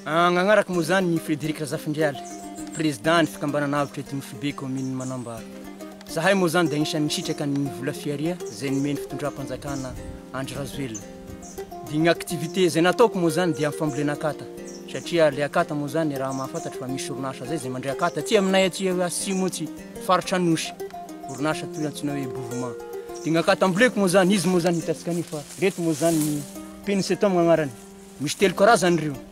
Nagnaraka moa zany i Frederic Razafindrialy, président ny fikambanana avotra eto amin'ny Foibe commune Manambaro. Zahay moa zany dia agnisan'ny nisitraka ny vola fihariha izay nomen'ny fitondram-panjakana Andry Rajoelina. Dia ny activité izay nataoko moa izany dia ny fambolena akata satria ilay akata moa izany raha mahafantatro fa misy orinasa izay izay mandray akata aty aminay aty atsimo aty faritra Anosy, orinasa toy ny antsoina hoe Bovoma. Dia ny akata amboleko moa izany, izy moa izany hitantsika anio fa ireto moa izany ny Pensetum agnarany. Misy telo karazany ireo.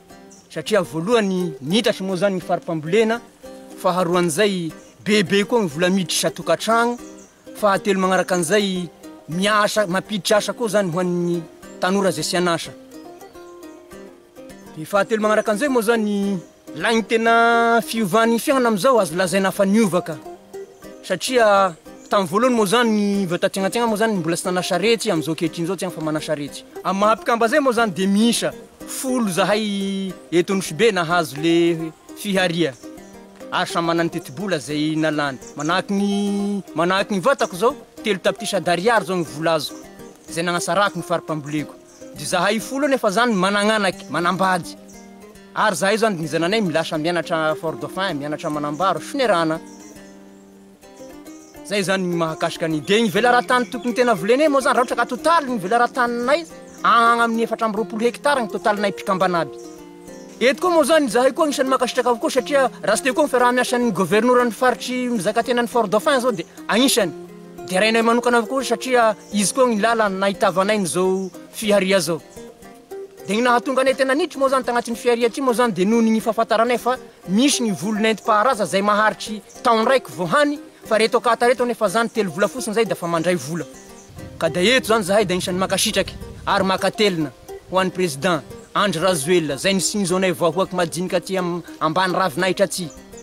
satria voalohany niitatra moa zany ny fari-pambolena, faharoan'izay bebe koa ny vola miditra isan-tokantragno, fahatelo magnaraka an'izay miasa mampiditra asa koa zany ho an'ny tanora izay tsy an'asa. Ny fahatelo magnaraka an'izay moa zany lain'ny tena fiovan'ny fiainana amin'izao azo lazaina fa niova ka. Satria tamin'ny voalohany moa zany ny vao taty anatsigna moa zany mbola tsy nanasaretsy amin'izao ankehitriny zao tsy afa manasaretsy. Amin'ny maha mpikamba zay moa zany dia miisa folo zahay eto Nosy-Be nahazo le fiharia ary samy manana ny tetibola zay nalany. Manahaky ny manahaky ny vatako zao telo tapitrisa d'ariary zao ny vola azoko zay nanasarako ny fari-pamboleko. Dry zahay folo nefa zany managnanaky, manambady. Ary zahay zany dinizananay milasa mianatra fort dauphin, mianatra manambaro, finerana. Zay zany ny mahakasika ny. Dia ny velaran-tany tokony tena volenay moa zany raha ohatra ka totaly ny velaran-taninay agny amin'ny efatra amby roapolo hectare ny totalinay mpikambana aby. Eto koa moa zany zahay koa agnisan'ny mankasitraka avokoa satria raha tsy teo koa ny fiaraha-miasan'ny governoran'ny faritry mizaka tena an'i fort dauphin zao dia agnisany. Derainay manokana avokoa satria izy koa ny lalany nahitavanay ny zao fiharia zao. Dia ny nahatonga anay tena niditra moa zany tagnatin'ny fiharia ty moa zany dia noho ny fahafataranay fa misy ny voly nentim-paharaza zay maharitry taon raiky vao hany fa reto akata reto anefa zany telo vola fotsiny zay dafa mandray vola. Ka dia eto zany zahay dia anisany makasitraky ary makatelina ho an'i Président Andry Razoelina zay nisinzonay vahoaky madinika aty am ambany ravinahitra aty.